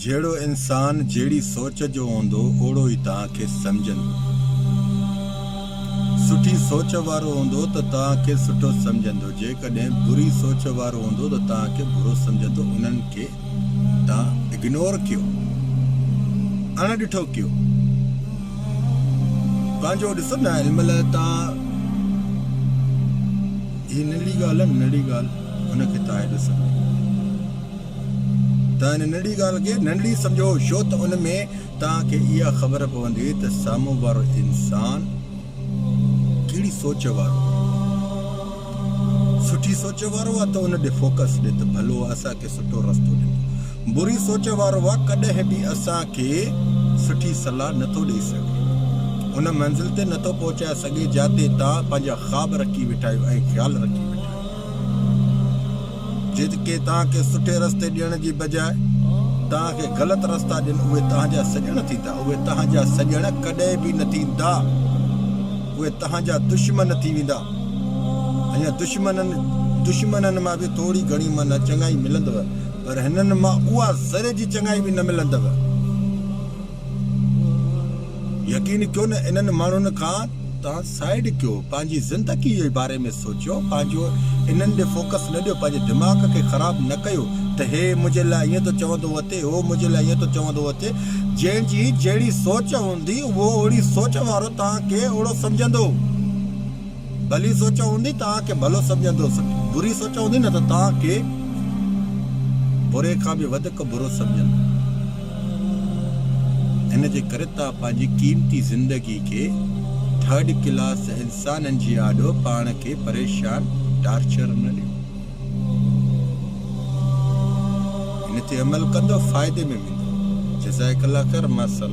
جهڙو انسان جهڙي سوچ جو هوندو اوڙو ئي توهان کي سمجهندو. سٺي سوچ وارو هوندو ته توهان کي سٺو سمجهندو جيڪڏهن بري سوچ وارو هوندو ته توهان کي برو سمجهندو انهن کي توهان اگنور ڪيو اڻ ڏٺو ڪيو پنهنجو ڏسو نه علم لاء توهان هي ننڍڙي ڳالهه ننڍڙي ڳالهه ان کي توهان هيڏو سمجهندو. توهان ان ننڍڙي ڳالهه کي ننڍڙي سمجهو ڇو ته ان ۾ توهان کي اها خبر پوندي ته سامهون وارو انسان ڪهڙي سوچ وارو سٺي سوچ وارو آهي ته ان ڏي فوڪس ڏي ته ڀلو اسان کي سٺو رستو ڏي بري سوچ وارو آهي ڪڏهن به اسان کي سٺي صلاح نٿو ڏئي سگهي ان منزل تي نٿو پهچائي سگهي جاتي توهان پنهنجا خواب رکي ويٺا آهيو ۽ خيال رکي ويٺا آهيو جيڪي توهان کي سٺي رستي ڏيڻ جي بجاء توهان کي غلط رستا ڏين اهي توهان جا سڄڻ ٿيندا اهي توهان جا سڄڻ ڪڏهن به نه ٿيندا اهي توهان جا دشمن ٿي ويندا ۽ دشمنن دشمنن مان به ٿوري گهڻي معنيٰ چڱائي ملندو پر هنن مان اها ذري جي چڱائي به نه ملندو يقين ڪيو نه انهن ماڻهن کان تان سائيڊ ڪيو پنهنجي زندگي جي باري ۾ سوچيو پنهنجو انهن ڏي فوڪس نه ڏيو پنهنجي دماغ کي خراب نه ڪيو ته هي منهنجي لاء ائين ٿو چوندو اٿي هو منهنجي لاء ائين ٿو چوندو اٿي جنهن جي جهڙي سوچ هوندي اهو اوهڙي سوچ وارو توهان کي اوهڙو سمجهندو. ڀلي سوچ هوندي توهان کي ڀلو سمجهندوس، بري سوچ هوندي نه ته توهان کي بري کان به وڌيڪ برو سمجهندوس. ان جي ڪري توهان پنهنجي قيمتي زندگي کي ٿرڊ ڪلاس انسانن جي آڏو پاڻ کي پريشان ٽارچر نه ڏيو. هن تي عمل ڪندو فائدي ۾ ويندو. جزائڪ الله خير مع السلامه.